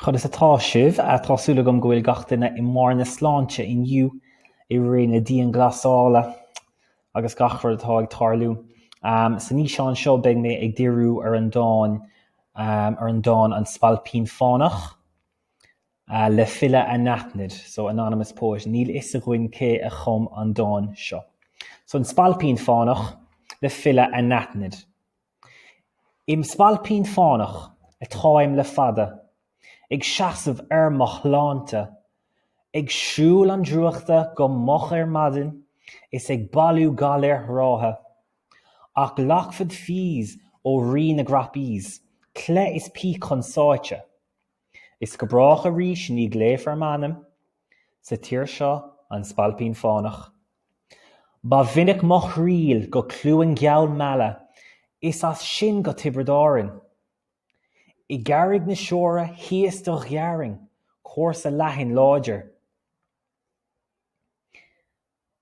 Conas atá sibh? Tá súil agam go bhfuil gach duine i mbarr na sláinte inniu i ré na dianghlasála agus gach rud atá ag tarlú. San fhíseán seo beidh mé ag díriú ar an dán ar an dán An Spailpín Fánach le file anaithnid, so anonymous poet. Níl fhios againn cé a chum an dán seo. So An Spailpín Fánach le file anaithnid. Im Spailpín Fánach atáim le fada, Ag seasamh ar mo shláinte, Ag siúl an drúchta go moch ar maidin Is ag bailiú galair ráithe. Ach glacfad fees ó Rí na gCroppies, Cleith is píc chun sáite, Is go brách arís ní glaofar m'ainm Sa tír seo, An Spailpín Fánach. Ba mhinic mo thriall go Cluain gheal Meala is as sin go Tiobraid Árainn. I gCarraig na Siúire thíos do ghearrainn cúrsa leathan láidir.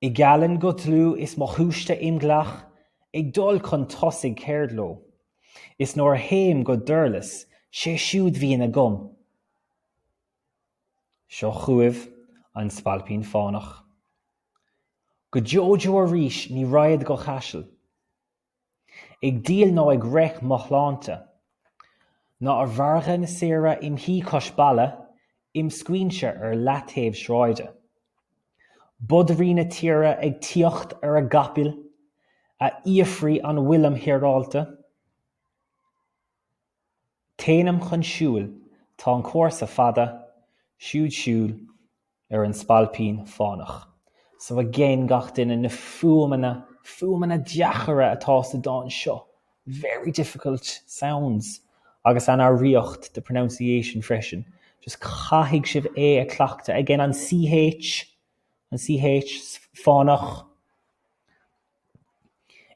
I gCallainn go dlúth is mo shúiste im ghlac ag dul chun tosaigh ceard leo, is nuair a théim go Durlas sé siúd bhíonn agam. Seo chugaibh an Spailpín Fánach. Go deo deo arís ní raghad go Caiseal Ag díol ná ag reic mo shláinte, Ná ar mhargadh na saoire im shuí cois balla Im scaoinse ar leataobh sráide. Bodairí na tíre ag tíocht ar a gcapaill Á fhiafraí an bhfuilim hireálta? Téanam chun siúil, tá an cúrsa fada, siúd siúl ar an Spailpín Fánach. So again gach duine na fuaimeanna, fuaimeanna deacra atá sa dán seo, very difficult sounds, agus an fhoghraíocht, the pronunciation freisin, just caithfidh sibh é a chleachtadh, again an CH, an CH, fánach.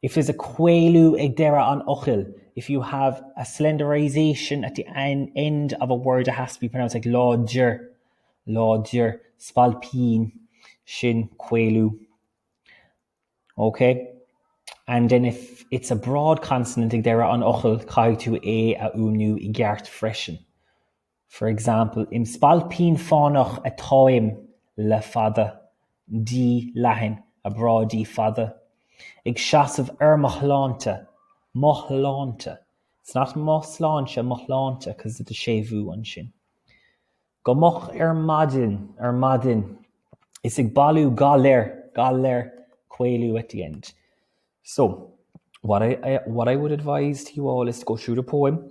If there's a caolú ag deireadh an fhocail, if you have a slenderization at the end of a word it has to be pronounced like láidir, láidir, spailpín, sin caolú. OK? And then if it's a broad consonant ag deireadh an fhocail, caithfidh tú é a fhuaimniú i gceart freisin. For example, im spailpín fánach atáim le fada, D leathan, a broad D, fada, ag seasamh ar mo shláinte, mo shláinte, it's not mo sláinte, mo shláinte, cause of the séimhiú ansin. Go moch ar maidin, ar maidin, is ag bailiú galair, galair, caolú at the end. So, what I would advise to you all is to go through the poem,